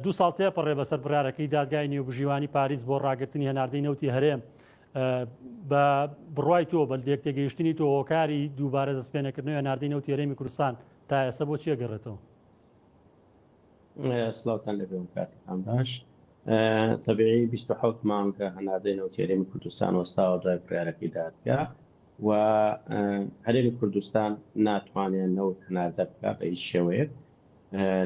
دوو ساڵ تێپەڕێ بەسەر بڕارەکەی دادگای نێوبژیوانی پاریس بۆ ڕاگرتنی هەناردەی نەوتی هەرێم بە بڕای تۆ بە لێک تێگەیشتنی تۆ هۆکاری دووبارە دەستپێنەکردنەوە ناردەی نەوتی هەرێمی کوردستان تا ئێستا بۆ چیە گەڕێتەوە سلااوان لە بێم کاتەکان باش تەبیعی 26 مانگە هەناردەی نەوتی هەرێمی کوردستان وەستاوە دوای بڕارەکەی دادگا و هەرێمی کوردستان ناتوانێت نەوت هەناردە بکە بە هیچ شێوەیە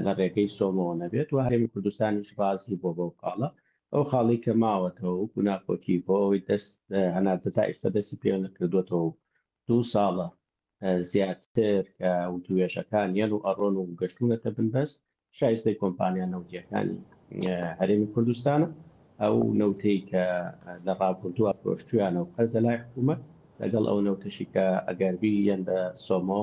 لە ڕێگەی سۆمۆوە نەبێت و هەرێمی کوردستانیش ڕازی بووە بەو خاڵە، ئەو خاڵەی کە ماوەتەوە وەکو ناکۆکی بۆ ئەوەی دەست هەناردە تا ئیستا دەستی پێ نەکردووەتەوە و دوو ساڵە زیاتر کە وتووێژەکان یەن و ئەڕۆن و گەشتوونەتە بنبەست شایستەی کۆمپانیا نەوتییەکانی هەرێمی کوردستانە ئەو نەوتەی کە لە ڕابردووە فرۆشتویانە و قەرزە لای حکوومەت لەگەڵ ئەو نەوتەشی کە ئەگەربی یەن بە سۆمۆ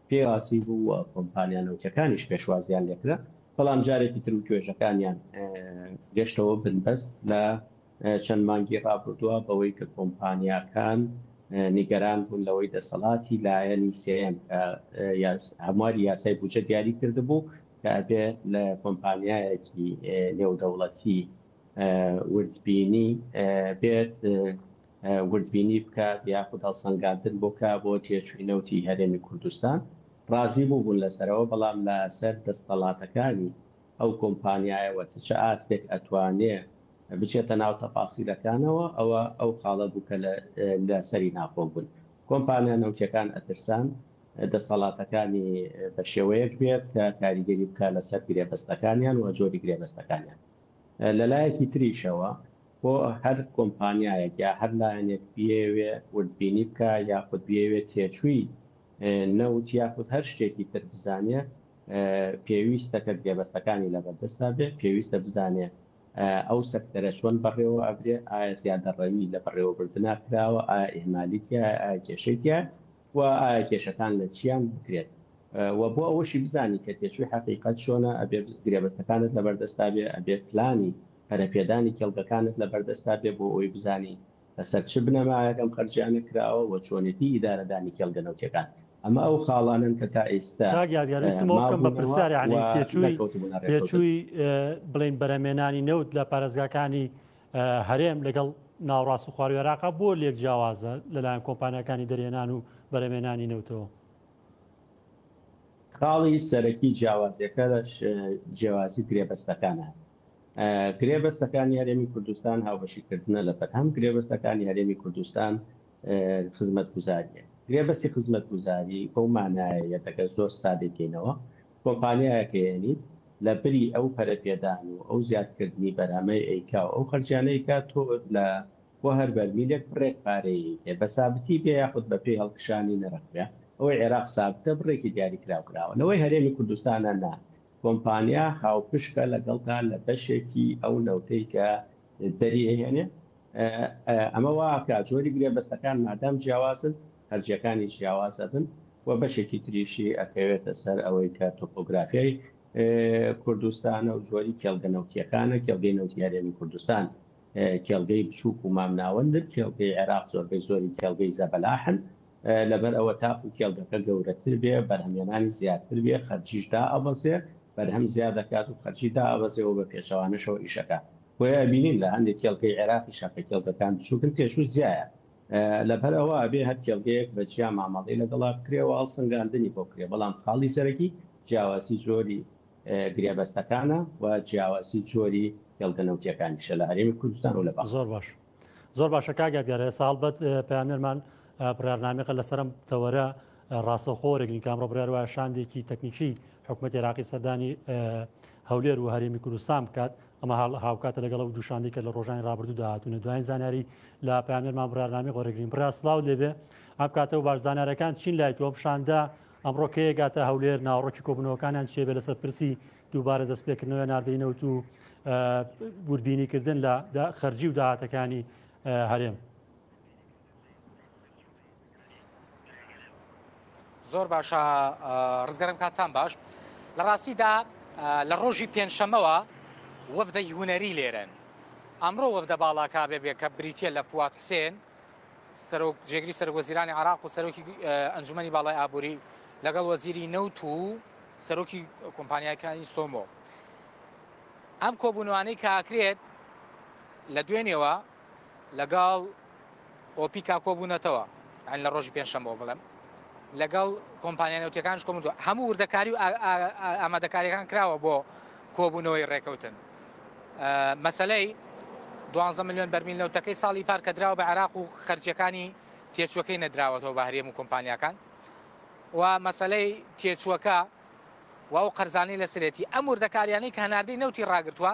پێی ڕاستی بوو و کۆمپانیا نەوتیەکانیش پێشوازیان لێکرا، بەڵام جارێکی تر وتوێژەکانیان گەشتەوە بنبەست لە چەند مانگی ڕابردووە بەوەی کە کۆمپانیاکان نیگەران بوون لەوەی دەسەڵاتی لایەنی سێیەم کە هەمواری یاسای بودجە دیاری کردبوو کە ئەبێ لە کۆمپانیایەکی نێودەوڵەتی وردبینی بێت وردبینی بکات یاخود هەڵسەنگاندن بکات بۆ تێچووی نەوتی هەرێمی کوردستان، ڕازی بووبوون لەسەرەوە، بەڵام لەسەر دەستەڵاتەکانی ئەو کۆمپانیایەوە تە چ ئاستێک ئەتوانێ بچێتە ناو تەفاسیلەکانەوە، ئەوە ئەو خاڵە بوو کە لەسەری ناکۆک بوون. کۆمپانیا نەوتییەکان ئەترسان دەستەڵاتەکانی بە شێوەیەک بێت کە کاریگەری بکات لەسەر گرێبەستەکانیان و جۆری گرێبەستەکانیان. لەلایەکی تریشەوە بۆ هەر کۆمپانیایەک یا هەر لایەنێک بیەوێ وردبینی بکا یاخود بیەوێ تێچووی نەوت یاخود هەر شتێکی تر بزانێ پێویستە کە گرێبەستەکانی لەبەردەستا بێ پێویستە بزانێ ئەو سەکتەرە چۆن بەڕێوە ئەبرێ ئایا زیادەڕەوی لە بەڕێوەبردنا کراوە ئایا ئیهمالی تیایە ئایا کێشەی تیایە و ئایا کێشەکان لە چیان بکرێت و بۆ ئەوەشی بزانی کە تێچووی حەقیقەت چۆنە ئەبێت گرێبەستەکانت لەبەردەستدا بێ ئەبێت پلانی پەرەپێدانی کێڵگەکانت لەبەردەستدا بێ بۆ ئەوەی بزانی لەسەر چ بنەمایەک ئەم خەرجیانە کراوە و چۆنێتی ئیدارەدانی کێڵگە نەوتیەکان ئەمە ئەو خاڵانەن کە تا ئێستا کاک یادگار ویستم ئەوە بکەم بە پرسیار یەعنی تێچووی تێچووی بڵێن بەرهەمێنانی نەوت لە پارێزگاکانی هەرێم لەگەڵ ناوەڕاست و خواروی عێراقا بۆ لێک جیاوازە لەلایەن کۆمپانیاکانی دەرهێنان و بەرهەمێنانی نەوتەوە؟ خاڵی سەرەکی جیاوازیەکە لەش جیاوازی گرێبەستەکانە. گرێبەستەکانی هەرێمی کوردستان هاوبەشیکردنە لە بەرهەم، گرێبەستەکانی هەرێمی کوردستان خزمەتگوزاریە. گرێبەستی خزمەتگوزاری بەو مانایە یەتەکە زۆر سادەی کەینەوە، کۆمپانیایەک ئەیەنیت لە بری ئەو پەرە پێدان و ئەو زیاد کردنی بەرهەمەی ئەیکا و ئەو خەرجیانە ئەیکا تۆ لە بۆ هەر بەرمیلێک بڕێک پارەی ئەیکەی بە سابتی بێ یاخود بە پێی هەڵکشانی نرخ بێ ئەوەی عێراق سابتە بڕێکی دیاری کراو کراوە لەوەی هەرێمی کوردستانە نا کۆمپانیا هاوپشکە لەگەڵتا لە بەشێکی ئەو نەوتەی کە دەری ئەیهێنێ ئەمە وا ئەکا جۆری گرێبەستەکان مادام جیاوازن هەرجیەکانی جیاواز ئەبن و بەشێکی تریشی ئەکەوێتە سەر ئەوەی کە تۆپۆگرافیای کوردستانە و زۆری کێڵگە نەوتیەکانە کێڵگەی نەوتی هەرێمی کوردستان کێڵگەی بچووک و مامناوەندن کێڵگەی عێراق زۆربەی زۆری کێڵگەی زەبەلاحن لەبەر ئەوە تاکو کێڵگەکە گەورەتر بێ بەرهەمێنانی زیاتر بێ خەرجیش دا ئەبەزێ بەرهەم زیاد دەکات و خەرجی دا ئەبەزێەوە بە پێچەوانەشەوە ئیشەکە بۆیە بینین لە هەندێک کێڵگەی عێراقی شەکە کێڵگەکان بچووکن تێشوو زیایە لەبەر ئەوە ئەبێ هەر کێڵگەیەک بە جیا مامەڵەی لەگەڵا بکرێ و هەڵسەنگاندنی بۆ بکرێ، بەڵام خاڵی سەرەکی جیاوازی جۆری گرێبەستەکانە و جیاوازی جۆری کێڵگە نەوتییەکانیشە لە هەرێمی کوردستان و لە باکور. زۆر باش زۆر باشە کاک یادگار ئێستا هەڵبەت پەیامنێرمان بڕیارنامەیەکە لەسەر ئەم تەوەرە ڕاستەوخۆ وەرەگرین کە ئەمڕۆ بڕیار وایە شاندێکی تەکنیکی حکوومەتی عێراقی سەردانی هەولێر و هەرێمی کوردستان بکات ئەمە هاوکاتە لەگەڵ ئەو دوو شاندەی کە لە ڕۆژانی ڕابردوودا هاتوونە دوایین زانیاری لە پامێرمان بڕارنامی غۆرەگرین برا سلااو لێبێ ئەم کاتە و باش زانارەکان چین لای تۆم شاندە ئەمڕۆ کەیەگاتە هەولێر ناوڕۆکی کۆبنەوەکانیان چێبێ لەسەر پرسی دووبارە دەست پێکردنەوە ناردەی نەوت و وربینیکردن لە خەرجی و داهاتەکانی هەرێم. زۆر باشە ڕزگەرم کاتان باش لە ڕاستیدا لە ڕۆژی پێنجشەمەوە وەفدەی هوەری لێرن ئەمڕۆ وەفدە باڵاکە بێ بێ کە بریتە لە فوات حسێن سەرۆک جێگری سەر وەزیرانی عراق و سەرۆکی ئەنجومی باڵای ئابووری لەگەڵ وەزیری نەوت و سەرۆکی کۆمپانیاکانی سۆمۆ ئەم کۆبوونوانەی کاکرێت لە دوێنێەوە لەگەڵ ئۆپیکا کۆبوونەتەوە ئەن لە ڕۆژی پێنجشەمەوە بڵێم لەگەڵ کۆمپانیا نەوتەکانش کۆمدو هەموو وردەکاری و ئامادەکاریەکان کراوە بۆ کۆبوونەوەی ڕێکەوتن مەسلەی دوانزە میلیۆن بەرمیل نەوتەکەی ساڵی پار کە دراوە بە عراق و خەرجەکانی تێچوەکەی نەدراوەتەوە بە هەرێم و کۆمپانیاکان و مەسلەی تێچوەکە و ئەو قەرزانانی لە سرێتی ئەم وردەکاریانەی کە هەناردەی نەوتی ڕاگرتووە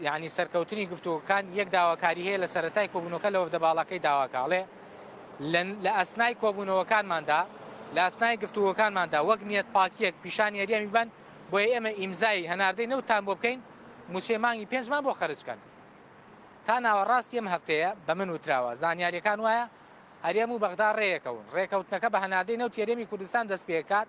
یانی سەرکەوتنی گفتوگۆکان یەک داواکاری هەیە لە سەرەتای کۆبوونەوەکە لە وەفدە باڵاکەی داواکە ئەڵێ لە ئەسنای کۆبوونەوەکانماندا لە ئەسنای گفتوگۆکانماندا وەک نیەت پاکیەک پیشان یاریەمی بن بۆیە ئێمە ئیمزای هەناردەی نەوتان بۆ بکەین موچەی مانگی پێنجمان بۆ خەرجکەن تا ناوەڕاستی ئەم هەفتەیە بە من وتراوە زانیاریەکان وایە هەرێم و بەغدا ڕێیەکەون ڕێکەوتنەکە بە هەناردەی نەوت یەرێمی کوردستان دەست پێکات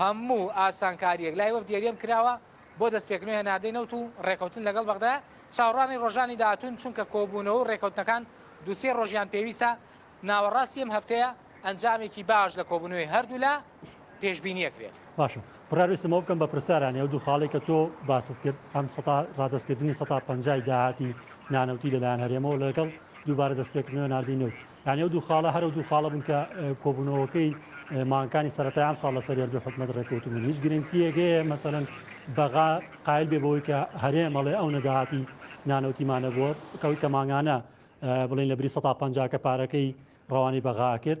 هەموو ئاسانکارییەک لای وەفدی هەرێم کراوە بۆ دەستپێکردنی هەناردەی نەوت و رێککەوتن لەگەڵ بەغدا چاوەڕوانی رۆژانی داهاتوون، چونکە کۆبوونەوە و رێککەوتنەکان دوو سێ رۆژیان پێویستە، ناوەڕاستی ئەم هەفتەیە ئەنجامێکی باش لە کۆبوونەوەی هەردوولا پێشبینی ئەکرێت. باشە برا ویستم ئەوە بکەم بە پرسیارانی ئەو دوو خاڵەی کە تۆ باست کرد ئەم سەتا ڕادەستکردنی سەتا پەنجای داهاتی نانەوتی لەلایەن هەرێمەوە لەگەڵ دووبارە دەستپێکردنەوەی هەناردەی نەوت یانی ئەو دوو خاڵە هەر ئەو دوو خاڵە بوون کە کۆبوونەوەکەی مانگەکانی سەرەتای ئەم ساڵ لەسەر یەک دوو حکومەت ڕێککەوتبوون هیچ گرنگتیەک هەیە مەسەلەن بەغا قایل بێ بەوەی کە هەرێم ئەڵێ ئەو نەداهاتی نانەوتیمانە بووە کەوەی کە مانگانە بڵین لە بری 150 کە پارەکەی ڕەوانی بەغا کرد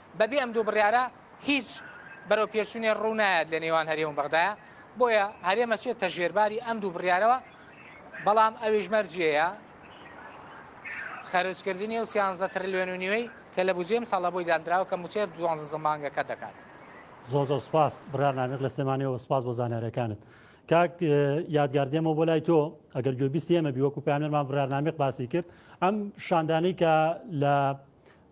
بەبێ ئەم دوو بڕیارە هیچ بەرەوپێشچوونێ ڕوو نایەت لە نێوان هەرێم و بەغدایە، بۆیە هەرێم ئەچێتە ژێرباری ئەم دوو بڕیارەوە، بەڵام ئەویش مەرجیەیە خەرجکردنی ئەو سیانزدە ترلیۆن و نیوەی کە لە بودجەی ئەمساڵدا بۆی دانراوە کە مووچەی دوانزە مانگەکە دەکات. زۆر زۆر سوپاس برا نامیق لە سلێمانیەوە و سوپاس بۆ زانیاریەکانت. کاک یادگار دێمەوە بۆ لای تۆ ئەگەر گوێبیستی ئێمەبی وەکو پەیامنێرمان برا نامیق باسی کرد ئەم شاندانەی کە لە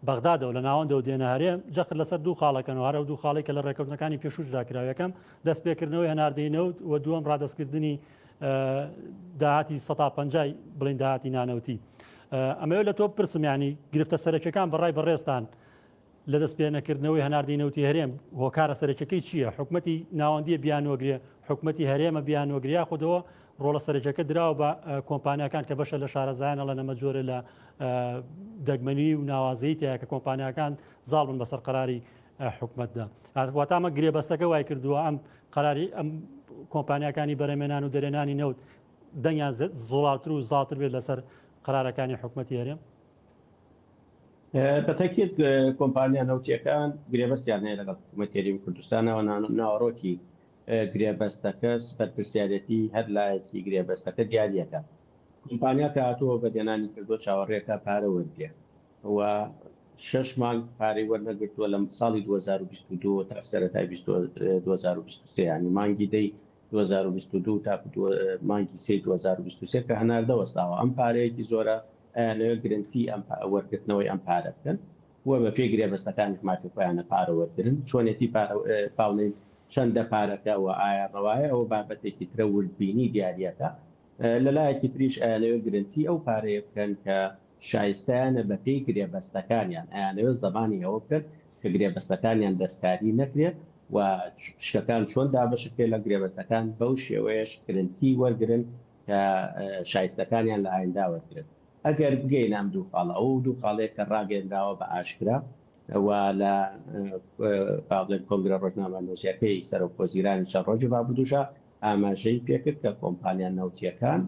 بەغدادە و لە ناوەندەوە دێنە هەرێم، جەخت لەسەر دوو خاڵ ئەکەن و هەر ئەو دوو خاڵەی کە لە ڕێککەوتنەکانی پێشووشدا کراو، یەکەم، دەستپێکردنەوەی هەناردەی نەوت و دووەم، ڕادەستکردنی داهاتی سەتا پەنجای بڵین داهاتی نانەوتی. ئەمەوێت لە تۆ بپرسم یانی گرفتە سەرەکیەکان بە ڕای بەڕێزتان لە دەست پێ نەکردنەوەی هەناردەی نەوتی هەرێم هۆکارە سەرەکیەکەی چییە؟ حکومەتی ناوەندیە بیانوەگرێ، حکومەتی هەرێمە بیانوەگرێ یاخودەوە ڕۆڵە سەرەکیەکە دراوە بە کۆمپانیاکان کە بەشە لە شارەزایانە لە نەمە جۆرە لە دەگمەنی و ناوازەی تایە کە کۆمپانیاکان زاڵ بن بەسەر قراری حکومتدا واتامە گرێبەستەکە وای کردووە ئەم قراری ئەم کۆمپانیاکانی بەرەمێنان و دەرێنانی نەوت دەنگیان زۆڵاتر و زاتر بێت لەسەر قرارەکانی حکوومەتی هەرێم بەتەکیت کۆمپانیا نەوتیەکان گرێبەستیان هەیە لەگەڵ حکوومەتێری و کوردستانەوە ناوەڕۆکی گرێبەستەکەس بەرپرسیارێتی هەر لایەکی گرێبەستەکە دیاریەکە کۆمپانیا کە هاتووە بە دێنانی کردوە چاوەڕێکە پارە وەرگرێ و شەش مانگ پارەی وەرنەگرتووە لە ساڵی 2022 تا سەرەتای 2023 یانی مانگی دەی 2022 تا مانگی سی 2023 کە هەناردە وەستاوە ئەم پارەیەکی زۆرە لە گرنتی ئەم وەرگرتنەوەی ئەم پارە بکەن و بە پێی گرێبەستەکانی حماتی خۆیانە پارە وەرگرن، چۆنێتی پارە پاونین، چەندە پارەکە و ئایا ڕەوایە ئەوە بابەتێکی ترە وردبینی دیاریەکە، لە لایەکی تریش ئەیانەوێت گرنتی ئەو پارەیە بکەن کە شایستەیانە بە پێی گرێبەستەکانیان، ئەیانەوێت زەمانی ئەوە بکەن کە گرێبەستەکانیان دەستکاری نەکرێت و پشکەکان چۆن دابەش بکرێت لە گرێبەستەکان بەو شێوەیەش گرنتی وەرگرن کە شایستەکانیان لە ئاینداوەرگرن. ئەگەر بگەینە ئەم دوو خاڵە، ئەو دوو خاڵەی کە ڕاگەیەنراوە بە ئاشکرا و لە با بڵێن کۆنگرە ڕۆژنامەنووسییەکەی سەرۆکوەزیرانی چەند ڕۆژی ڕابردووشا ئاماژەی پێکرد کە کۆمپانیا نەوتییەکان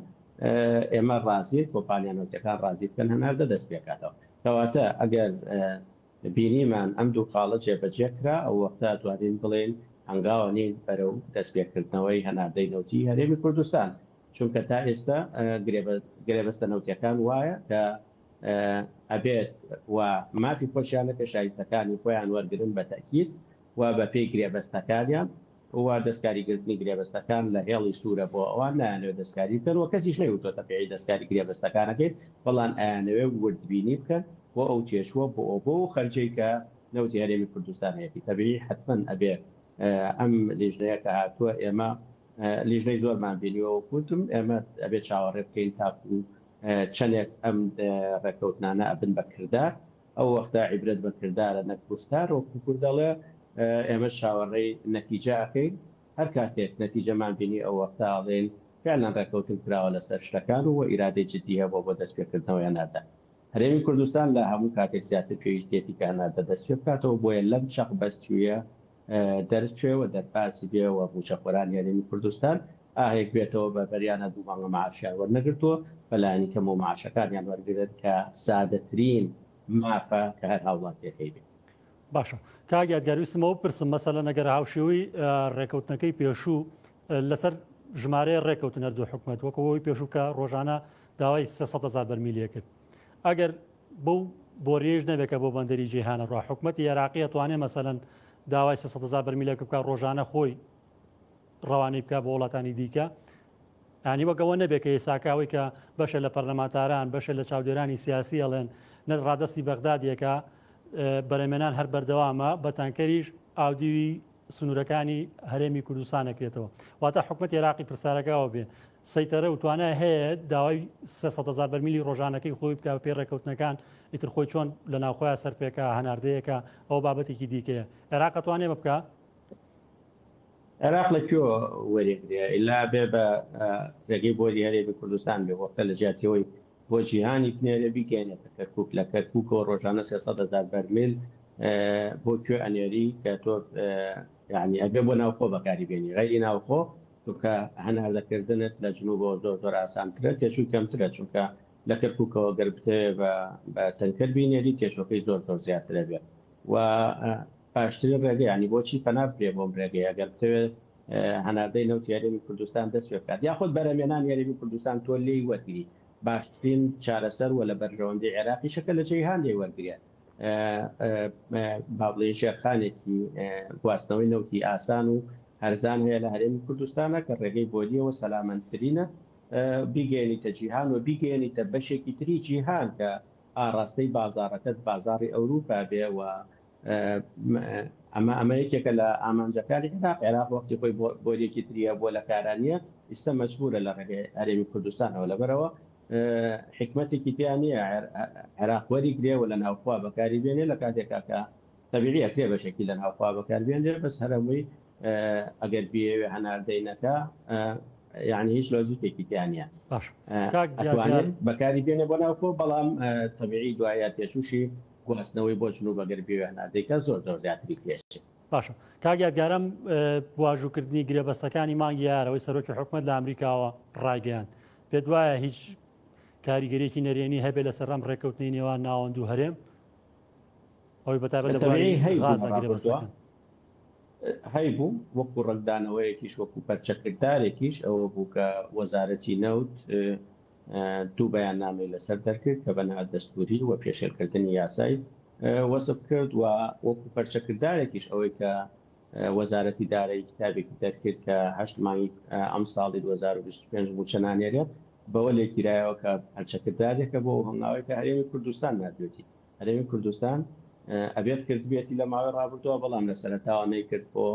ئێمە ڕازین کۆمپانیا نەوتییەکان ڕازی بکەن هەناردە دەست پێ کاتەوە. کەواتە ئەگەر بینیمان ئەم دوو خاڵە جێبەجێ کرا، ئەو وەختە ئەتوانین بڵێین هەنگاوە نین بەرەو دەست پێکردنەوەی هەناردەی نەوتی هەرێمی کوردستان. چونکە تا ئێستا گرێبەستە نەوتیەکان وایە کە ئەبێت و مافی خۆشیانەکە شایستەکانی خۆیان وەرگرن بە تەئکید و بە پێی گرێبەستەکانیان و دەستکاری گرتنی گرێبەستەکان لە هێڵی سورە بۆ ئەوان نایانەوێت دەستکاری بکەن و کەسیش نەیوتۆتە پێی دەستکاری گرێبەستەکانەکەی بەڵان ئایانەوێت وردبینی بکەن بۆ ئەو تێچووە بۆ ئەو بۆ و خەرجەی کە نەوتی هەرێمی کوردستان هەیەتی تەبیعی حتمەن ئەبێت ئەم لیژنەیە کە هاتووە ئێمە لیژنەی زۆرمان بینیوە وەکو وتم ئێمە ئەبێ چاوەڕێ بکەین تاکو چەندێک ئەم ڕێکەوتنانە ئەبن بە کردار ئەو وەختە عیبرەت بە کردارە نەک گوفتار وەکو کورد دەڵێ ئێمە چاوەڕێی نەتیجە ئەکەین هەر کاتێک نەتیجەمان بینی ئەو وەختە ئەڵێن فعلا ڕێکەوتن کراوە لەسەر شتەکان و ئیرادەی جدی هەیە بۆ بۆ دەستپێکردنەوەی هەناردە هەرێمی کوردستان لە هەموو کاتێک زیاتر پێویستیەتی کە هەناردە دەستپێ بکاتەوە بۆیە لەم چەق بەستوویە دەرچوێ و دەربازی بێ و مووچەخۆرانی هەرێمی کوردستان ئاهێک بێتەوە بە بەریانە دوو مانگە مەعاشیان وەرنەگرتووە بە لانی کەمەوە مەعاشەکانیان وەرگرن کە سادەترین مافە کە هەر هاوڵاتیەکەی بێت. باشە کاک یادگار ویستم ئەو بپرسم مەسەلەن ئەگەر هاوشێوەی ڕێکەوتنەکەی پێشوو لەسەر ژمارەیە ڕێکەوتن هەردوو حکومەت وەکەوەی پێشوو کە ڕۆژانە داوای سێ سەد هەزار بەرمیلیە کرد ئەگەر بەو بۆریەش نەبێت کە بۆ بەندەری جیهانە ڕوا حکوومەتتی عێراقیە توانێ مەسەەن داوای سەزا بەرمیلەکە بکە ڕۆژانە خۆی ڕەوانەی بکە بۆ وڵاتانی دیکە ینی وەگەوە نەبێت کە ئێساکەوەی کە بەشە لە پەرلەمانتاران بەشە لە چاودێرانی سیاسی ئەڵێن نە ڕادستی بەغدادیەکە بەرەمێنان هەر بەردەوامە بە تانکەریش ئاودیوی سنورەکانی هەرێمی کوردستان نەکرێتەوە واتە حکومت عێراقی پرسارەکەەوە بێ سەیتەرە و توانای هەیە داوای 300هزار بەرمیلی ڕۆژانەکەی خۆی بکە پێ ڕێکەوتنەکان ئیتر خۆی چۆن لە ناوخۆیان سەرپێکە هەناردەیەەکە ئەو بابەتێکی دیکەیە عێراقە توانێ بکە عێراق لە کوێ وەرێگرێ ئللا بێ بە ڕێگەی بۆری هەرێمی کوردستان بێ وەختە لە جیاتیەوەی بۆ جیهانی بنێرێ بیگەێنێتە کەرکک لە کەرککەوە ڕۆژانە سێ هزار بەرمیل بۆ کوێ ئەنێری کە تۆ یعنی ئەگە بۆ ناوخۆ بەکاری بێنی غیری ناوخۆ چونکە هەناردەکردنت لە جنوب بۆ زۆر زۆر ئاسانترە تێشوی کەمترە چونکە لە کەرککەوە گەر بتێ بە تەنکەر بینێری تێشەکەی زۆر زۆر زیاترە بێت و پاشتری ڕێگەیانی بۆچی پەنابێ بۆم ڕێگەیە گەر بتەوێت هەناردەی نەوتی هەرێمی کوردستان دەست پێ بکات یاخود بەرەمێنانی هەرێمی کوردستان تۆ لێی وەرگری باشترین چارەسەر و لە بەرژەوەندی عێراقی شەکە لە جیهان لێی وەرگێ بابڵێ ژێرخانێکی گواستنەوەی نەوتی ئاسان و هەرزان هەیە لە هەرێمی کوردستانە کە ڕێگەی بۆلیەوە سەلامەندترینە بیگەێنیتە جیهان و بیگەێنیتە بەشێکی تری جیهان کە ئاراستەی بازارەکەت بازاری ئەوروپا بێ و ئەمە ئەمە یەکێکە لە ئامانجەکانی عێراق عێراق وەختی خۆی بۆریەکی تریە بۆ لە کارانە ئیستا مەجبورە لە ڕێگەی ئەرێمی کوردستانەوە لەبەرەوە حکمتێکی تیان نیە عێراق وەری گرێ و لە ناوخوا بەکاری بێنێ لە کاتێکا کە تەبیعی ئەکرێ بەشێکی لە ناوخوا بەکار بێنێ بەس هەرەمووی ئەگەر بێوێ هەناردەینەکە یعنی هیچ لۆزیکێکی تیانە بەکاری بێنێ بۆ ناوخۆ بەڵام تەبیعی دوایە تێشوشی گواستنەوەی بۆ جلوبەرگ بێ وێنە دەیکات زۆر زۆر زیاتری پێچێت. باشە کاک یادگار ئەم واژووکردنی گرێبەستەکانی مانگی یار ئەوەی سەرۆکی حکومەت لە ئەمریکاوە ڕایگەیاند پێت وایە هیچ کاریگەریەکی نەرێنی هەبێ لەسەر ئەم ڕێککەوتنی نێوان ناوەند و هەرێم ئەوی بەتابەت لە غازە گرێبەستەکان هەیبوو وەکو ڕەنگدانەوەیەکیش وەکو پەرچەکردارێکیش ئەوە بوو کە وەزارەتی نەوت دوو بەیاننامەی لەسەر دەرکرد کە بە نادەستووری و پێشێلکردنی یاسای وەسف کرد و وەکو پەرچەکردارێکیش ئەوەی کە وەزارەتی دارایی کتابێکی دەرکرد کە هەشت مانگی ئەم ساڵی 2025 موچە نانێرێت بەوە لێکیرایەوە کە پەرچەکردارێکە بۆ هەنگاوی کە هەرێمی کوردستان نردوێتی هەرێمی کوردستان ئەبێت کردبێتی لە ماوەی ڕابردووە بەڵام لە سەرەتاوە نەیکرد بۆ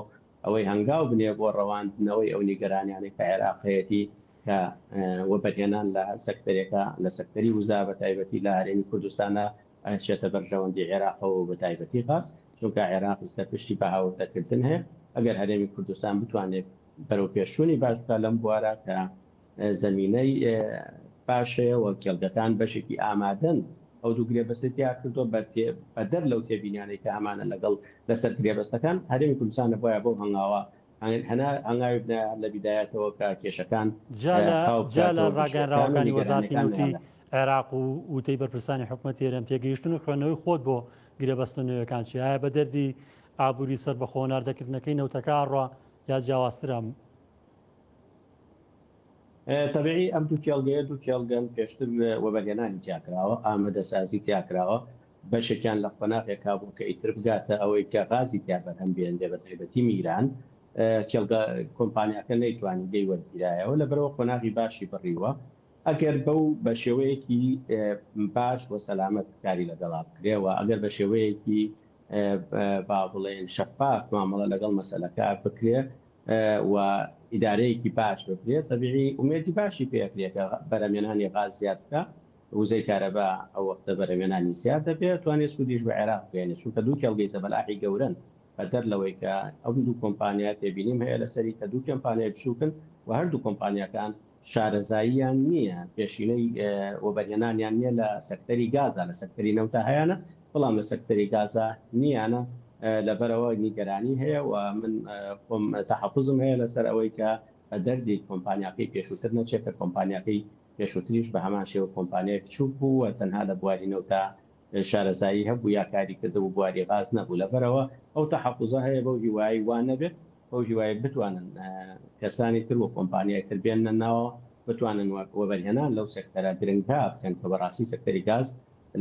ئەوەی هەنگاو بنێ بۆ ڕەواندنەوەی ئەو نیگەرانیانەی کە عێراق هەیەتی کە وەبەرهێنان لە هەر سەکتەرێکە لە سەکتەری وزە بە تایبەتی لە هەرێمی کوردستانە ئەچێتە بەرژەوەندی عێراقەوە و بە تایبەتی غاز چونکە عێراق ئیستە پشتی بە هاوردەکردن هەیە ئەگەر هەرێمی کوردستان بتوانێت بەرەوپێشچوونی باش بکات لەم بوارە کە زەمینەی باش هەیە و کێڵگەکان بەشێکی ئامادەن ئەو دوو گرێبەستی تیا کردووە بە بەدەر لەو تێبینیانەی کە هەمانە لەگەڵ لەسەر گرێبەستەکان هەرێمی کوردستان نەبوایە بەو هەنگاوە هەنا هەنگاوی بنایە لە بیدایەتەوە کە کێشەکان جا لە خاو بکات جا لە و ڕاگەیەنراوەکانی نیگەرانیەکان وەزارەتی هەیانە نەوتی لە عێراق و وتەی بەرپرسانی حکومەتی هەرێم پێگەیشتن و خوێندنەوەی خۆت بۆ گرێبەستە نوێیەکان چیە؟ ئایا بە دەردی ئابووری سەربەخۆ و ناردەکردنەکەی نەوتەکە ئەڕوا یا جیاوازترە؟ تەبیعی ئەم دوو کێڵگەیە دوو کێڵگەن پێشتر وەبەرهێنانی تیاکراوە ئامەدەسازی تیاکراوە بەشێکیان لە قۆناغێک کابوو کە ئیتر بگاتە ئەوەی کە غازی تیا بەرهەم بێنێ بە تایبەتی میران کێڵگە کۆمپانیاکە نەیتوانی دەی وەرگیرایەوە لە بەرەوە قۆناغی باشی بڕیوە ئەگەر بەو بە شێوەیەکی باش بۆ سەلامەت کاری لەگەڵا بکرێەوە ئەگەر بە شێوەیەکی با بڵێن شەفاف مامەڵە لەگەڵ مەسلەکە بکرێ و ئیدارەیەکی باش بکرێت تەبیعی ئومێدی باشی پێ ئەکرێ کە بەرەمێنانی غاز زیاد بکا وزەی کارەبا ئەو وەختە بەرەمێنانی زیاد دەبێ ئەتوانێ سوودیش بە عێراق بگەیەنێ چونکە دوو کێڵگەی زەبەلاحی گەورەن بەدەر لەوەی کە ئەم دوو کۆمپانیا تێبینیم هەیە لەسەری کە دوو کێمپانیای بچووکن و هەردوو کۆمپانیاکان شارەزاییان نییە، پێشینەی وەبەرهێنانیان نییە لە سەکتەری گازا، لە سەکتەری نەوتا هەیانە، بەڵام لە سەکتەری گازا نییانە، لەبەرئەوە نیگەرانی هەیە و من خۆم تەحەفوزم هەیە لەسەر ئەوەی کە بە دەردی کۆمپانیاکەی پێشووتر نەچێت، کە کۆمپانیاکەی پێشووتریش بە هەمان شێوە کۆمپانیای بچووک بوو و تەنها لە بواری نەوتا شارەزایی هەبوو یا کاری کردبوو، بواری غاز نەبوو، لەبەرئەوە ئەو تەحەفوزە هەیە، بەو هیوایەی وا نەبێت. بەو هیوایەی بتوانن کەسانی تر و کۆمپانیای تر بێننە ناوەوە بتوانن وەبەرهێنان لەو سێکتەرە گرنگە بکەن کە بەڕاستی سێکتەری گاز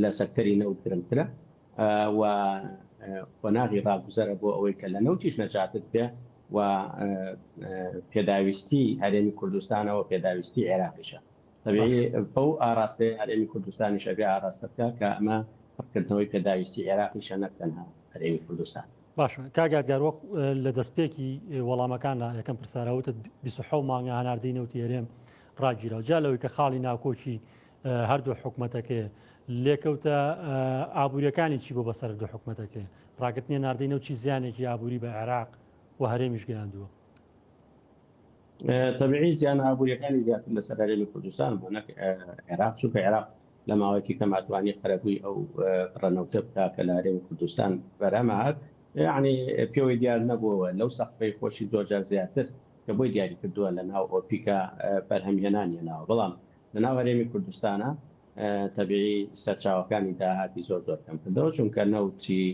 لە سێکتەری نەوت گرنگترە و قۆناغی ڕاگوزەرە بۆ ئەوەی کە لە نەوتیش نەجاتت بێ و پێداویستی هەرێمی کوردستانەوە پێداویستی عێراقیشە بەو ئاراستەی هەرێمی کوردستانیشە بێ ئاراستەکە کە ئەمە پڕکردنەوەی پێداویستی عێراقیشە نەک تەنها هەرێمی کوردستان باشە کاک یادگار وەک لە دەستپێکی وەڵامەکاندا یەکەم پرساراوتت 26 مانگە هەناردەی نەوتی هەرێم ڕاگیرەوە جا لەوەی کە خاڵی ناکۆکی هەردوو حکوومەتەکەی لێکەوتە ئابوووریەکانی چی بۆ بەسەر دوو حکوومەتەکەی ڕاگرتنی ناردەی نەوچی زیانێکی ئابووری بە عێراق و هەرێمیش گەیاندووە تەبعی زیان ئابوووریەکانی زیاتر لەسەر هەرێمی کوردستان بۆ نەک عێراق چونکە عێراق لە ماوەیەکی کەما توانی قەرەبووی ئەو بڕە نەوتە بکا کە لە هەرێمی کوردستان بەرهەمە هات یعنی پێوەی دیار نەبووەوە لەو سەقفەی خۆشی زۆرجار زیاتر کە بۆی دیاری کردووە لە ناو ئۆپیکە بەرهەمهێنان هێناوە بەڵام لە ناو هەرێمی کوردستانە تەبیعی سەرچاوەکانی داهاتی زۆر زۆر کەم کردەوە چونکە نەوتی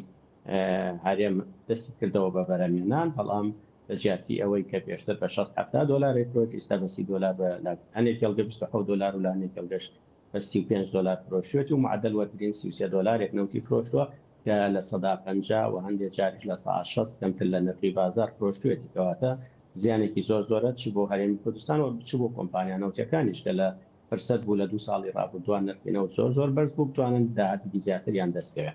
هەرێم دەستی کردەوە بە بەرەمێنان بەڵام لە جیاتی ئەوەی کە پێشتر بە 16 دلار فرۆت ئیستا بەسی دلار بە هەنێک کێڵگە 26 دلار و لە هەنێک کێڵگەش بە سی و پێنج دۆلار فرۆشیوەتی و معەدەل وەرتگرین سی و سێ دۆلارێک نەوتی فرۆشتووە کە لە سەدا پەنجا و هەندێ جاریش لە سەا شەست کەمتر لە نرخی بازار فرۆشتوویەتی کەواتە زیانێکی زۆر زۆرە چ بۆ هەرێمی کوردستان و چ بۆ کۆمپانیا نەوتیەکانیش کە لە فرسەت بوو لە دوو ساڵی رابوردووا نرخی نەوت زۆر زۆر بەرز بوو بتوانن داهاتێکی زیاتریان دەست کەوێ.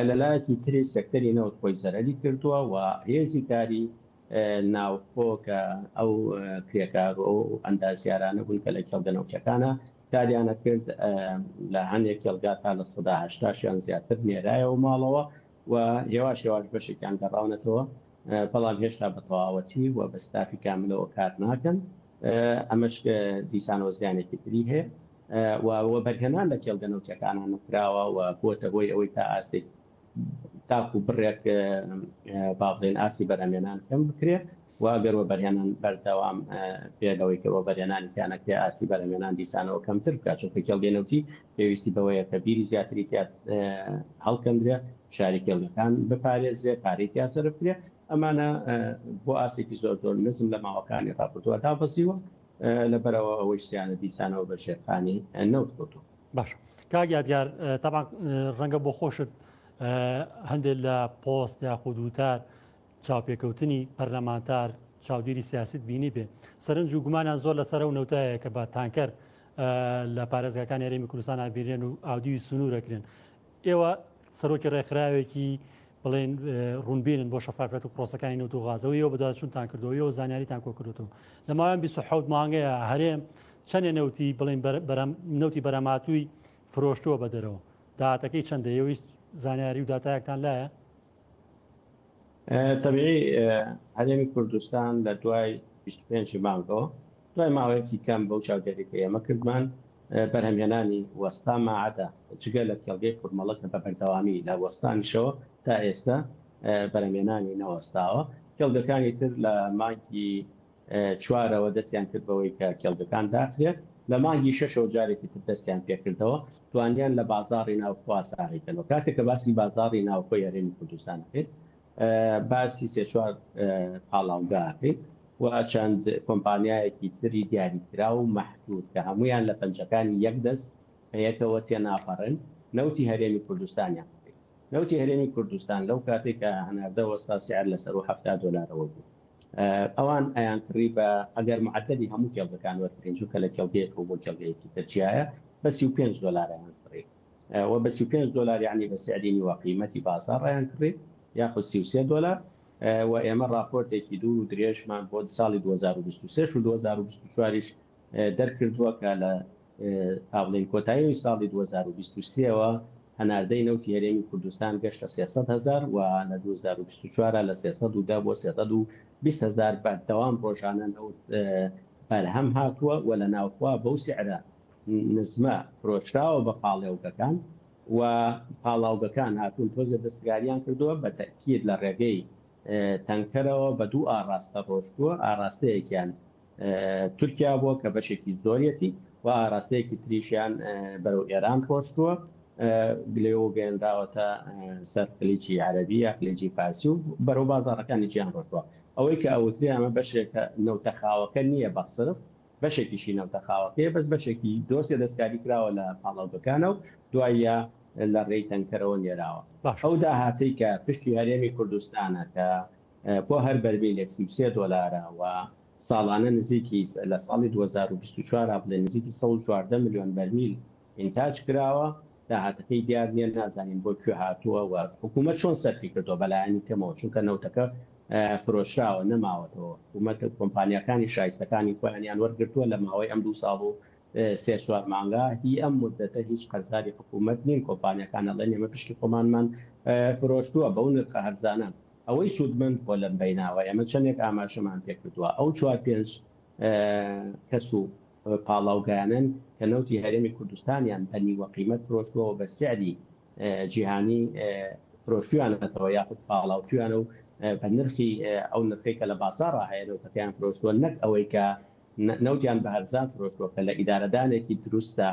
لەلایەکی تریش سێکتەری نەوت خۆی زەرەری کردووە و هێزی کاری ناوخۆ کە ئەو کرێکار و ئەو ئەندازیارانە بوون کە لە کێڵگە نەوتییەکانە کاریان ئەکرد لە هەندێک کێڵگا تا لە سەدا هەشتا یان زیاتر نێرایەوە ماڵەوە و هێواش هێواش بەشێکیان گەڕاونەتەوە بەڵام هێشتا بە تەواوەتی و بە ستافی کاملەوە کار ناکەن ئەمەش دیسانەوە زیانێکی تری هەیە. و وە بەرهەمان لە کێڵگە نەوتیەکانا نەکراوە و بوەتە هۆی ئەوەی تا ئاستێک تاکو بڕێک با بڵێن ئاستی بەرهەمێنان کەم بکرێ و ئەگەر وە بەرهێنان بەردەوام بێ لەوەی کە وە بەرهێنانی تیا نەکرێ ئاستی بەرهەمێنان دیسانەوە کەمتر بکات چونکە کێڵگەی نەوتی پێویستی بەوەیە کە بیری زیاتری تیا هەڵکەندرێ فشاری کێڵگەکان بپارێزرێ پارەی تیا سەرف کرێ ئەمانە بۆ ئاستێکی زۆر زۆر نزم لە ماوەکانی ڕابردووە دابەزیوە لە بەرەوە ئەوەی سیانە دیسانەوە بە ژێرخانی نەوت کەوتووە. باش کاک یادگار تەبان ڕەنگە بۆ خۆشت هەندێک لە پۆست یاخود وتار چاوپێکەوتنی پەرلەمانتار چاودێری سیاست بینی بێ سەرنج و گومانیان زۆر لەسەر و نەوتایە کە بە تانکەر لە پارێزگاکان یاریمی کوردستان ئابیرێن و ئاودیوی سنوورەکرێن ئێوە سەرۆکی ڕێکخراوێکی بڵێن ڕوونبیرن بۆ شەفافەت و پرۆسەکانی نەوت و غازەوە یەوە بەدوادچونتان کردەوەەوە زانیاریتان کۆکردوتەوە لە ماوەیان 26 مانگەیە هەرێم چەندێ نەوتی بڵین نەوتی بەرەماتووی فرۆشتووە بە دەرەوە داهاتەکەی چەندەیەویست زانیاری و دااتایەکتان لایە تەبیعی هەرێمی کوردستان لە دوای بیست و پێنج ی مانگەوە، دوای ماوەیەکی کەم بەو چاودێرییە کە ئێمە کردمان، بەرهەمهێنانی وەستا ماعەدە، جگە لە کێڵگەی قورمەڵە کە بە بەردەوامی لە وەستانیشەوە تا ئێستە بەرهەمهێنانی نەوەستاوە، کێڵگەکانی تر لە مانگی. چوارەوە دەستیان کرد بەوەی کە کێڵگەکان داخرێت، لە مانگی شەشەوە جارێکی تر دەستیان پێکردەوە، توانیان لە بازاڕی ناوخۆ ئاسارەی کەن و کاتێک کە باسی بازاڕی ناوخۆی هەرێمی کوردستان ئەکەین باسی سێ چوار پاڵاوگە ئەکەین و چەند کۆمپانیایەکی تری دیاریکراو و مەحدود کە هەموویان لە پەنجەکانی یەک دەست بە یەکەوە تێناپەڕن نەوتی هەرێمی کوردستانیان بکەین. نەوتی هەرێمی کوردستان لەو کاتەی کە هەناردە وەستا سعر لە سەروو حەفتا دۆلارەوە بوو. ئەوان ئەیانکڕی بە ئەگەر معەدەلی هەموو کێڵگەکان وەربگرین، چونکە لە کێڵگەیەکەوە بۆ کێڵگەیەکی تر جیایە، بە سی و پێنج دۆلار ئەیانکڕی و بە سی و پێنج دۆلار یەعنی بە سعری نیوە قیمەتی بازاڕ ئەیانکڕی یاخود سی و سێ دۆلار و ئێمە ڕاپۆرتێکی دوور و درێژمان بۆ ساڵی دوو هەزار و بیست و سێ و دوو هەزار و بیست و چوار یش دەرکردووە کە لە تابڵێی کۆتایی ساڵی دوو هەزار و بیست و سێ ەوە هەناردەی نەوتی هەرێمی کوردستان گەشتە سێ سەد هەزار و لە دوو هەزار و بیست و چوار لە سێ سەد و دە بۆ سێ سەد و بیست هەزار بەردەوام ڕۆژانە نەوت بەرهەم هاتووە و لە ناوخوا بەو سعرە نزمە فرۆشراوە بە پاڵێوگەکان و پاڵاوگەکان هاتوون تۆزێ دەستکاریان کردووە بە تەکیید لە ڕێگەی تەنکەرەوە بە دوو ئاڕاستە ڕۆشتووە ئاراستەیەکیان تورکیا بووە کە بەشێکی زۆریەتی و ئاراستەیەکی تریشیان بەرەو ئێران ڕۆشتووە گلەوە گەێنراوەتە سەر قلیجی عربی یا قلیجی فارسی و بەرەو بازارەکانی جیان ڕۆشتووە ئەوەی کە ئەوتری ئەمە بەشێکە نەوتە خاوەکە نییە بە سرف بەشێکیشی نەوتە خاوەکەی بەس بەشێکی دۆسێ دەستکاری کراوە لە پاڵاوگەکانە و دوایە لە ڕێی تەنکەرەوە نێراوە ئەو داهاتەی کە پشتی هەرێمی کوردستانە کە بۆ هەر بەرمیلێک سی و سێ دۆلارە و ساڵانە نزیکی لە ساڵی دوو هەزار و بیست و چوار ڕا بڵێین نزیکی سەد و چواردە ملیۆن بەرمیل ئینتاج کراوە، داهاتەکەی دیار نییە، نازانین بۆ کوێ هاتووە و حکوومەت چۆن سەرفی کردووە بە لایەنی کەمەوە، چونکە نەوتەکە فرۆشراوە نەماوەتەوە، حکوومەت کۆمپانیاکانی شایستەکانی خۆیانیان وەرگرتووە لە ماوەی ئەم دوو ساڵ و سێ چوار مانگە، هی ئەم موددەتە هیچ قەرزاری حکوومەت نین، کۆمپانیاکان ئەڵێن ئێمە پشکی خۆمانمان فرۆشتووە بەو نرخە هەرزانە. ئەوەی سوودمەند بووە لەم بیناوە ئێمە چەندێک ئاماژەمان پێکردووە ئەو چوار پێنج کەس و پاڵاوگایانەن کە نەوتی هەرێمی کوردستانیان بە نیوە قیمەت فرۆشتووەوە بە سعری جیهانی فرۆشتویانەتەوە یاخود پاڵاوتویانە و بە نرخی ئەو نرخی کە لە بازاڕ هەیە نەوتەکەیان فرۆشتووە نەک ئەوەی کە نەوتیان بە هەرزان فرۆشتووە کە لە ئیدارەدانێکی دروستدا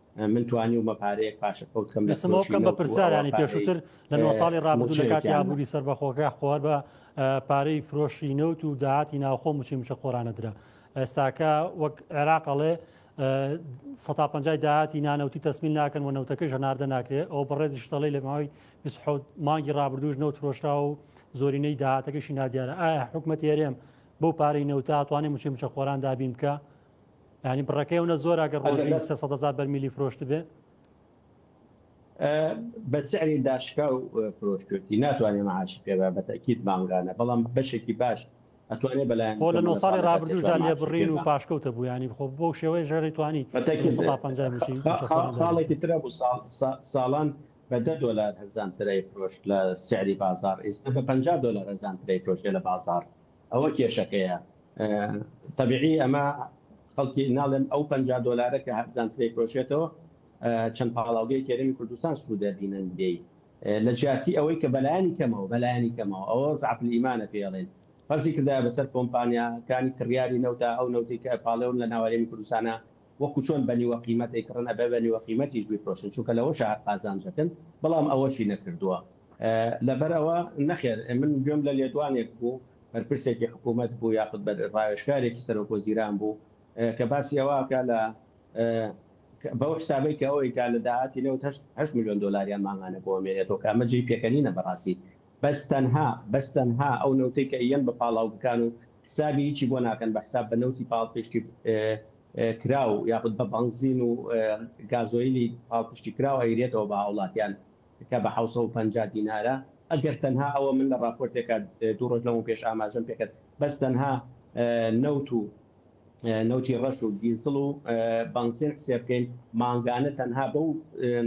من توانیومە پارەیەک پاشەکەوت بکەم لە فرۆشی نەوت و ئەوا پارەی موچەیەکیان. ویستم ئەوە بکەم بە پرسیارانی پێشووتر لە نۆ ساڵی ڕابردوو لە کاتی ئابووری سەربەخۆکە خۆ هەر بە پارەی فرۆشی نەوت و داهاتی ناوخۆ موچەی موچەخۆرانە درا. ئێستاکە وەک عێراق ئەڵێ سەتا پەنجای داهاتی نانەوتی تەسمیل ناکەن و نەوتەکەیش هەناردە ناکرێت ئەو بەڕێزیش دەڵی لە ماوەی مانگی ڕابردووش نەوت فرۆشراوە و زۆرینەی داهاتەکەشی نادیارە ئایا حکومەت هێرێم بەو پارەی نەوتاتوانێ مچی مچە خۆران دابین بکە ینی بڕەکەی ئەوە زۆر ئەگەر ڕۆژی سە سە هزار بەرمیلی فرۆشت بێ بە سعری داشکا و فرۆشتوێتی ناتوانێت معاشی پێدا بەتەکیت مامگانە بەڵام بەشێکی باش ئەتوانێت بەلایەن خۆ لە نۆ ساڵی ڕابردوشدا لێ بڕین و پاشکەوتە بوو ینی بخۆ بۆ شێوەی ژێری توانی خاڵێکی ترە بۆ ساڵان بە دە دلار هەزان ترای فرۆشت لە سعری بازار ئێستا بە پ دلار هەزان ترای فرۆشێ لە بازار. ئەوە کێشەکەیە تەبیعی ئەمە خەڵکی ناڵێم ئەو پەنجا دۆلارە کە هەرزانترە ئەیفرۆشێتەوە چەند پاڵاوگەی کێرمی کوردستان سوود دەبینن لێی لە جیاتی ئەوەی کە بەلایەنی کەمەوە بەلایەنی کەمەوە ئەوە زەعفی ئیمانە پێی ئەڵێن فەرزی کردایە بەسەر کۆمپانیاکانی کڕیاری نەوتە ئەو نەوتەی کە پاڵێوم لە ناوەرێمی کوردستانە وەکو چۆن بە نیوە قیمەت دەیکڕن ئەبێ بە نیوە قیمەتیش بیفرۆشن چونکە لەوەشە هەر قازانجەکەن بەڵام ئەوەشی نەکردووە لەبەر ئەوە نەخێر من گوێم لە لێدوانێک بوو بەرپرسێکی حکوومەت بوو یاخود بە ڕاوێژکارێکی سەرۆک وەزیران بوو کە باسی ئەوە ئەکا لە بەو حسابەی کە ئەوەی کا لە داهاتی نەوت هەشت ملیۆن دۆلاریان مانگانە بۆ مێنێتەوە کە ئەمە جێی پێکەنینە بەڕاستی بەس تەنها بەس تەنها ئەو نەوتەی کە یەن بە پاڵاو بکان و حسابی هیچی بۆ ناکەن بە حساب بە نەوتی پاڵپشتی کراو یاخود بە بەنزین و گازۆیلی پاڵپشتی کراو ئەیرێتەوە بە هاوڵاتیان کە بە حەوت سەد و پەنجا دینارە ئەگەر تەنها ئەوە من لە ڕاپۆرتێکا دوو ڕۆژ لەمەو پێش ئاماژەم پێکرد بەس تەنها نەوت و نەوتی ڕەش و دیزڵ و بەنزین حسێ بکەین مانگانە تەنها بەو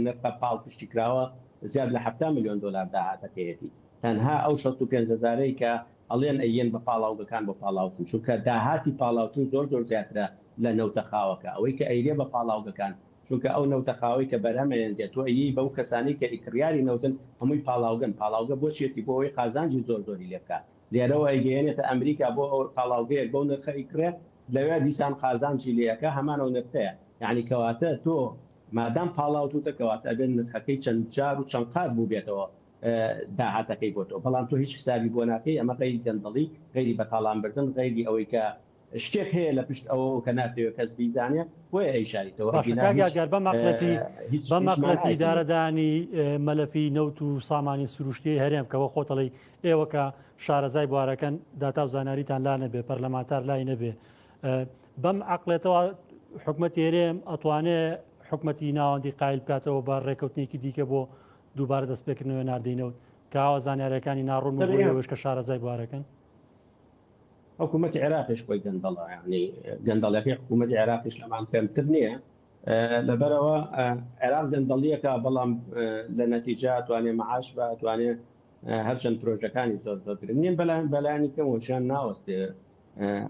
نرخە پاڵپشتی کراوە زیاد لە حەفتا ملیۆن دۆلار داهاتەکەیەتی تەنها ئەو شەست و پێنج هەزارەی کە ئەڵێن ئەیێن بە پاڵاوگەکان بۆ پاڵاوتن چونکە داهاتی پاڵاوتن زۆر زۆر زیاترە لە نەوتە خاوەکە ئەوەی کە ئەیرێ بە پاڵاوگەکان چونکە ئەو نەوتە خاوەی کە بەرهەم ئەیەنرێ تۆ ئەیێی بەو کەسانەی کە ئیکڕیاری نەوتن هەمووی پاڵاوگەن پاڵاوگە بۆ چیەتی بۆ ئەوەی قازانجی زۆر زۆری لێ بکا لێرەوە ئەیگەیەنێتە ئەمریکا بۆ ئەوە پاڵاوگەیەک بەو نرخە ئەیکڕێ لەوێ دیسان قازانجی لێ ئەکا هەمان ئەو نرخەیە یەعنی کەواتە تۆ مادام پاڵاوتوتە کەواتە ئەبێت نرخەکەی چەند جار و چەند قات بووبێتەوە داهاتەکەی بۆ تۆ بەڵام تۆ هیچ حسابی بۆ ناکەی ئەمە غەیری گەندەڵی غەیری بەتاڵان بردن غەیری ئەوەی کە شتێک هەیە لە پشت ئەوە کە ناتەوێت کەس بیزانێ بۆیە ئەی شاریتەوە باشە کاک یادگار بە مەقلەتی بە مەقلەتی دارەدانی مەلەفی نەوت و سامانی سروشتی هەرێم کەەوە خۆتەڵی ئێوە کە شارەزای بوارەکەن داتا و زانیاریتان لا نەبێ پەرلەمانتار لای نەبێ بەم عقلێتەوە حکومەت هێرێم ئەتوانێ حکومەتی ناوەندی قایل بکاتەوە بە ڕێککەوتنێکی دیکە بۆ دووبارە دەستپێکردنەوەی ناردەی نەوت کە ئاوا زانیاریەکانی ناڕوون و بۆی ئەوەش کە شارەزای بوارەکەن. حکوومەتی عێراقیش خۆی گەندەڵە یعنی گەندەڵەکەی حکوومەتی عێراقیش لەمان کەمتر نییە لەبەرەوە عێراق گەندەڵیەکە بەڵام لە نەتیجا توانێ مەعاش بە توانێ هەرچەند پرۆژەکانی زۆر زۆر گرنگین بەلایەن بەلایانی کەمەوەشیان ناوەستێ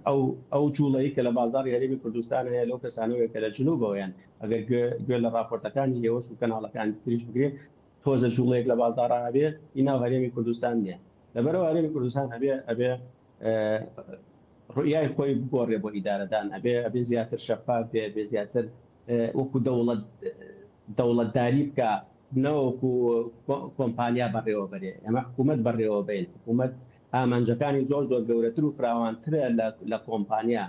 ئەو ئەو جوڵەی کە لە بازاری هەرێمی کوردستان هەیە لەو کەسانەوەیە کە لە جنوبەوە یەن، ئەگەر گوێ لە ڕاپۆرتەکانی ئێوەش و کەناڵەکانی تریش بگرێت، تۆزێ جوڵەیەک لە بازارا هەبێ ئی ناو هەرێمی کوردستان نیە. لەبەرئەوە هەرێمی کوردستان ئەبێ ئەبێ ڕوئیای خۆی بگۆڕێ بۆ ئیدارەدان، ئەبێ ئەبێ زیاتر شەفاف بێ، ئەبێ زیاتر وەکو دەوڵەت دەوڵەتداری بکا نەوەکو کۆمپانیا بەڕێوەبەرێ. ئێمە حکوومەت بەڕێوەبەین، حکوومەت ئامانجەکانی زۆر زۆر گەورەتر و فراوانترە لە کۆمپانیا،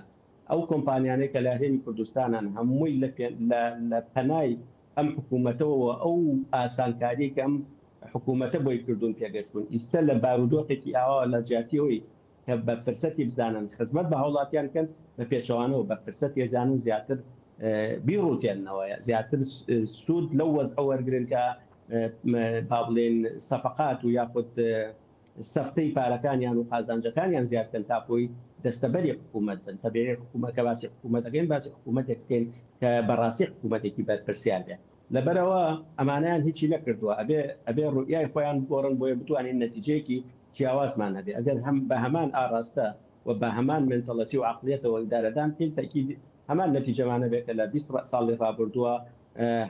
ئەو کۆمپانیانەی کە لە هەرێمی کوردستانن هەمووی لە پەنای ئەم حکوومەتەوە و ئەو ئاسانکاریەی کە ئەم حکوومەتە بۆی کردوون پێگەشتوون، ئیستە لە بارودۆخێکی ئاواوە لە جیاتی ئەوەی کە بە فرسەتی بزانن خزمەت بە هاوڵاتیان بکەن بە پێچەوانەوە بە فرسەتی ئەزانن زیاتر بیڕووتێننەوە یا زیاتر سوود لەو وەزعە وەرگرن کە با بڵێین سەفقات و یاخود سەفتەی پارەکانیان و قازانجەکانیان زیاد بکەن تا کۆی دەستەبەری حکوومەت بن، تەبێ حکوومەت کە باسی حکوومەت دەکەین باسی حکوومەتێک بکەین کە بەڕاستی حکوومەتێکی بەرپرسیار بێ لەبەرەوە ئەمانەیان هیچی نەکردووە ئەبێ ئەبێ ڕوئیای خۆیان بگۆڕن بۆیە بتوانین نەتیجەیەکی جیاوازمان هەبێ ئەگەر هەم بە هەمان ئاڕاستە و بە هەمان مێنتەڵەتی و عەقڵیەتەوە ئیدارەدان پێی تەکید هەمان نەتیجەمانە بێ کە لە بیست ساڵی ڕابوردوە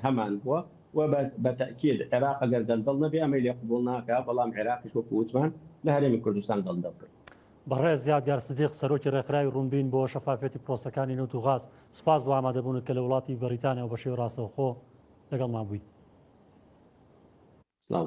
هەمان بوە و بە تەئکید عێراق ئەگەر دەلدەڵ نەبێ ئەمەی لێ قبوڵ ناکا بەڵام عێراقیش وەکو وتمان لە هەرێمی کوردستان دەلدەڵ بێ. بەڕێز یادگار سدیق، سەرۆکی ڕێکخراوی ڕوونبین بۆ شەفافیەتی پرۆسەکانی نەوت و غاز، سوپاس بۆ ئامادەبوونت کە لە وڵاتی بەریتانیاوە بە شێوەی ڕاستەوخۆ لەگەڵمان بوویت. سڵاو.